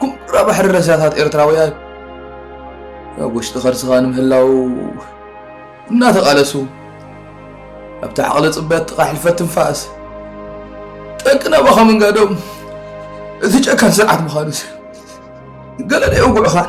ኩራ ባሕሪ ረሳታት ኤርትራውያን ኣብ ውሽጢ ከርስኻ ንምህላው እናተቓለሱ ኣብቲ ዓቕሊ ጽበት ጥቓ ሕልፈት ትንፋስ ጠቂ ናባኻ ምንጋዶም እቲ ጨካን ስርዓት ምዃኑ ገለ ደየውግዑኻን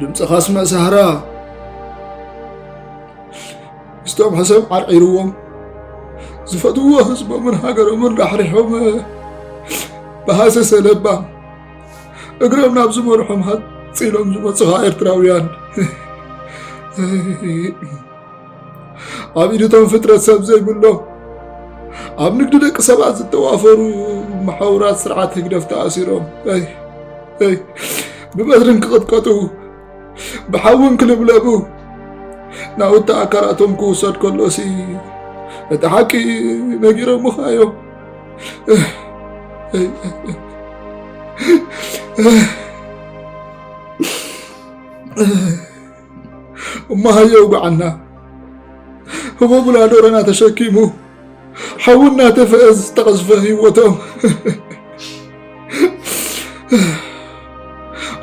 ድምፂ ካስመ ሳህራ ምስቶም ሕሰብ ዓርዒርዎም ዝፈትዎ ህዝቦምን ሃገሮምን ራሕሪሖም ብሃሰሰ ለባም እግሮም ናብ ዝመርሖም ሃፂሎም ዝመፁኻ ኤርትራውያን ኣብ ኢድቶም ፍጥረት ሰብ ዘይብሎም ኣብ ንግዲ ደቂ ሰባት ዝተዋፈሩ መሓውራት ስርዓት ህግደፍ ተኣሲሮም ብበትርን ክቕጥቀጡ ብሓውን ክልብለቡ ናውቲ ኣካላቶም ክውሰድ ከሎሲ እቲ ሓቂ ነጊሮምኻ እዮም Ugh. እሞ ሃየ ውግዓና ህቦብላ ዶረና ተሸኪሙ ሓዊ እናተፈአ ዝተቐዝፈ ህይወቶም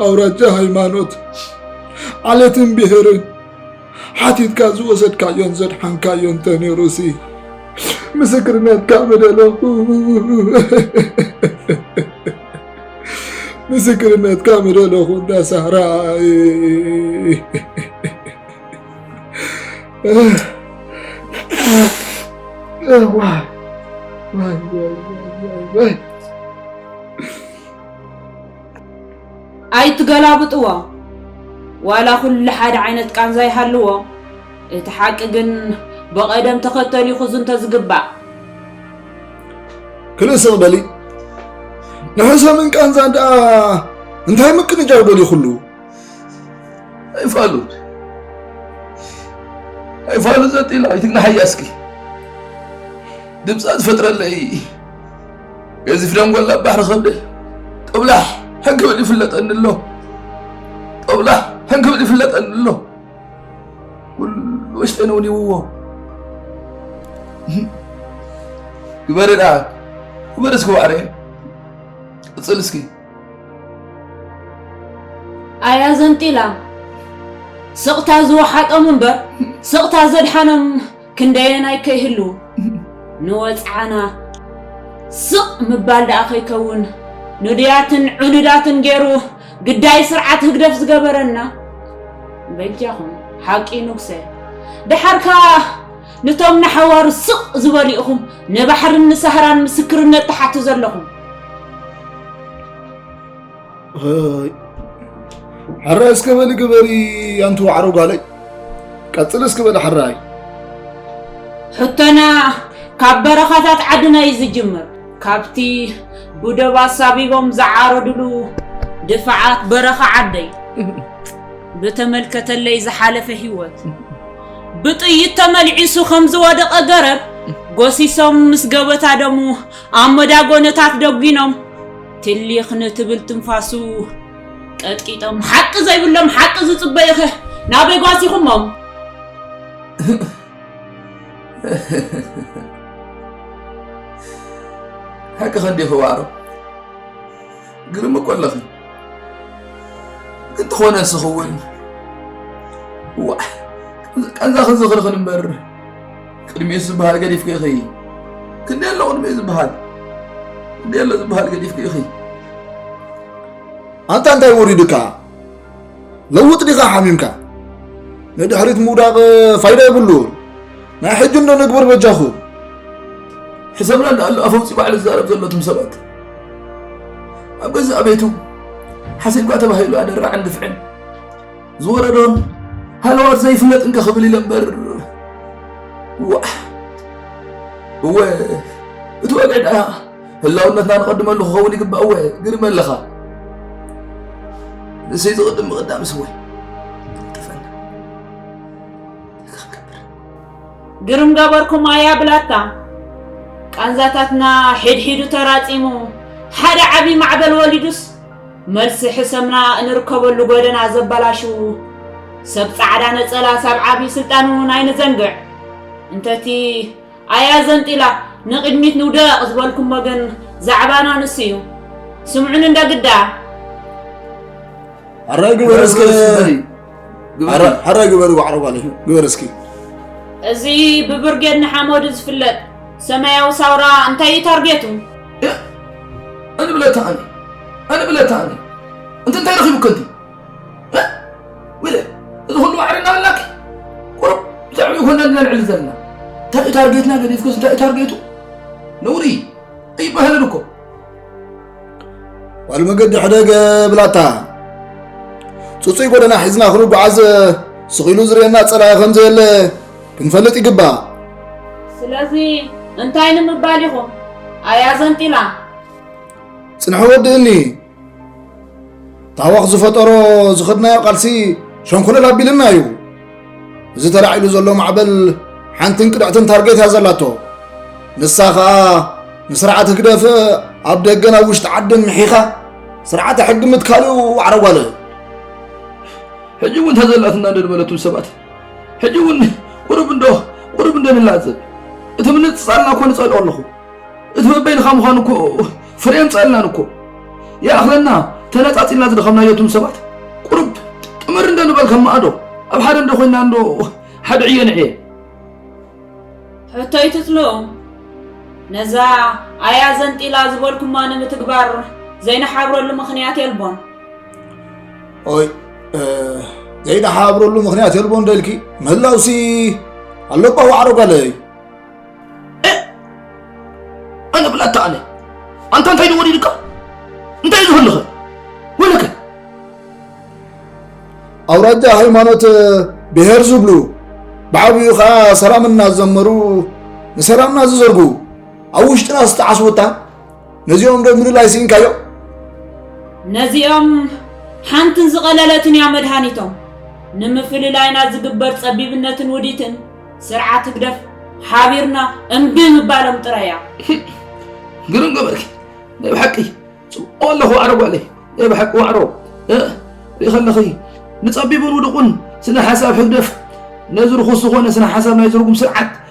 ኣውራጃ ሃይማኖት ዓለትን ብሄርን ሓቲትካ ዝወሰድካዮን ዘድሓንካዮን ተነይሩሲ ምስክርነትካ ምደለኹ ምስክርነትካ ምደለኹ እንዳ ሳራ ኣይትገላብጥዎ ዋላ ኩሉ ሓደ ዓይነት ቃንዛ ይሃልዎ እቲ ሓቂ ግን ብቐደም ተኸተል እዩ ክዝንቶ ዝግባእ ክልእ ስቕ በሊ ንሕሰምን ቃንዛን ደኣ እንታይ ምቅንጃው ደልዩ ኩሉ ኣይፋሉ ኣይፋሉ ዘጢላ ኣይትግናሓያ እስኪ ድምፃ ዝፈጥረለይ ገዚፍ ደንጎላ ባሕሪ ከብደ ጦብላሕ ሕንክብል ይፍለጠኒ ኣሎ ጦብላሕ ሕንክብል ይፍለጠኒ ኣሎ ኩሉ ኣስተንውኒውዎ ግበሪ ደኣ ግበሪ እስኪ ዋዕረ ቅፅል እስኪ ኣያ ዘንጢላ ስቕታ ዝወሓጦም እምበር ስቕታ ዘድሓኖም ክንደየናይ ከይህሉ ንወጽዓና ስቕ ምባል ደኣ ከይከውን ንዱያትን ዑኑዳትን ገይሩ ግዳይ ስርዓት ህግደፍ ዝገበረና። በጃኹም ሓቂ ኑግሰ ደሓር ከኣ ንቶም ንሓዋሩ ስቕ ዝበሉ ኢኹም ንባሕርን ንሳህራን ምስክርነት ትሓቱ ዘለኹም። ሕራይ እስከ በሊ ግበሪ ኣንቲ ዋዕሮ ጓለይ ቀፅል እስከ በሊ ሕራይ ሕቶና ካብ በረኻታት ዓድና እዩ ዝጅምር ካብቲ ብደብ ኣሳቢቦም ዝዓረድሉ ድፋዓት በረኻ ዓደይ ብተመልከተለይ ዝሓለፈ ህይወት ብጥይት ተመልዒሱ ከም ዝወደቐ ገረብ ጎሲሶም ምስ ገበታ ደሙ ኣብ መዳጎነታት ደጒኖም ትሊኽ ንትብል ትንፋሱ ቀጥቂጦም ሓቂ ዘይብሎም ሓቂ ዝጽበዩኸ ናበይ ጓሲኹሞም? ሓቂ ከዲኺ ዋዕሮ ግርም እኮ ኣለኺ ግን ትኾነ ስኽውን ዋ ቃንዛ ክዝኽርኽን እምበር ቅድሚኡ ዝበሃል ገዲፍኪ ኢኺ ክንደይ ኣሎ ቅድሚኡ ዝበሃል ክንደይ ኣሎ ዝበሃል ገዲፍኪ ኢኺ ኣንታ እንታይ ወሪዱካ ለውጥ ዲኻ ሓሚምካ ንድሕሪት ምውዳቕ ፋይዳ ይብሉ ናይ ሕጂ እንዶ ንግብር በጃኹ ሕሰብና ኣሎ ኣፈውፂ ባዕሉ ዝዛረብ ዘሎ ትም ሰባት ኣብ ገዛእ ቤቱ ሓሲብካ ተባሂሉ ኣደራዕን ግፍዕን ዝወረዶን ሃለዋት ዘይፍለጥ እንከ ክብል ኢለ እምበር ዋዕ እወ እቲ ወግዒ ደኣ ህላውነትና ንቐድመሉ ክኸውን ይግባእ እወ ግርመ ኣለኻ ንሰይ ዝቕድም ምቕዳም ስወይ ጠፈና ግርም ገበርኩም ኣያ ብላታ ቃንዛታትና ሕድሒዱ ተራፂሙ ሓደ ዓብዪ ማዕበል ወሊዱስ መልሲ ሕሰምና እንርከበሉ ጎደና ዘበላሽዉ ሰብ ጻዕዳ ነጸላ ሳብ ዓብዪ ስልጣን እውን ኣይንዘንግዕ እንተቲ ኣያ ዘንጢላ ንቕድሚት ንውደቕ ዝበልኩሞ ግን ዛዕባና ንሱ እዩ ስምዑን እንደ ግዳ ሕረ ግበር እስከ ሕረ ግበር ዋዕሮ ጓል ግበር እስኪ እዚ ብብርጌድ ንሓመዱ ዝፍለጥ ሰማያዊ ሳውራ እንታይ እዩ ታርጌቱ እን ብለታ ኣኒ እን ብለታ ኣኒ እንት እንታይ ረኺቡ ከንቲ ውለ እዚ ኩሉ ዋዕሪ እናበላኪ ቁሩብ ብዛዕባ ይኮና እንድና ንዕሊ ዘለና እንታይ እዩ ታርጌትና ገዲፍክስ እንታይ እዩ ታርጌቱ ነውሪ ኣይበሃልን እኮ ጓል መገዲ ሕደገ ብላታ ፅፁይ ጎደና ሒዝና ክንጓዓዝ ስኺሉ ዝርየና ፀላኢ ከምዘየለ ክንፈልጥ ይግባእ። ስለዚ እንታይ ንምባል ኢኹም? ኣያ ዘንጢላ ጽንሖ ወድእኒ ታወኽ ዝፈጠሮ ዝኸድናዮ ቃልሲ ሸንኮለል ኣቢልና እዩ እዚ ተላዒሉ ዘሎ ማዕበል ሓንትን ቅድዕትን ታርጌት እያ ዘላቶ ንሳ ኸኣ ንስርዓት ህግደፍ ኣብ ደገን ኣብ ውሽጢ ዓድን ምሒኻ ስርዓተ ሕጊ ምትካልኡ ዋዕረጓለ ሕጂ እውን ተዘላትና ደድበለቱ ሰባት ሕጂ እውን ቁሩብ እንዶ ቁሩብ እንዶ ንላዘብ እቲ ምንጽጻልና እኮ ንጸልኦ ኣለኹ እቲ በበይንኻ ምዃኑ እኮ ፍረ የምጽኣልናን እኮ ይኣኽለና ተነጻጺልና ዝደኸምናዮ እቱም ሰባት ቁሩብ ጥምር እንዶ ንበል ከም ማእዶ ኣብ ሓደ እንዶ ኮይንና እንዶ ሓደ ዕዮ ንዕየ ሕቶ ይትትሎ ነዛ ኣያ ዘንጢላ ዝበልኩማ ንምትግባር ዘይንሓብረሉ ምኽንያት የልቦን ኦይ ዘይደሓብረሉ ምክንያት የልቦ እንደልኪ ምህላውሲ ኣለባ ዋዕሮ ጋለይ ኣነ ብላታ ኣነ ኣንተ እንታይ ንወዲድካ እንታይ እዩ ዝህልኸ ወለከ ኣውራጃ ሃይማኖት ብሄር ዝብሉ ብዓብኡ ከዓ ሰላምና ዝዘመሩ ንሰላምና ዝዘርጉ ኣብ ውሽጥና ዝተዓስወታ ነዚኦም ዶ ምልላይ ስኢንካዮ? ነዚኦም ሓንትን ዝቐለለትን እያ መድሃኒቶም። ንምፍልላይና ዝግበር ጸቢብነትን ውዲትን ስርዓት ህግደፍ ሓቢርና እምቢ ምባሎም ጥራይ እያ። ግርም ገበርኪ ናይ ብሓቂ ጽቡቕ ኣለኹ ዋዕሮ ጓለይ ናይ ብሓቂ ዋዕሮ ርኢ ከለኺ ንጸቢብን ውድቑን ስነ ሓሳብ ህግደፍ ነዚ ርኹስ ዝኾነ ስነ ሓሳብ ናይ ዝርጉም ስርዓት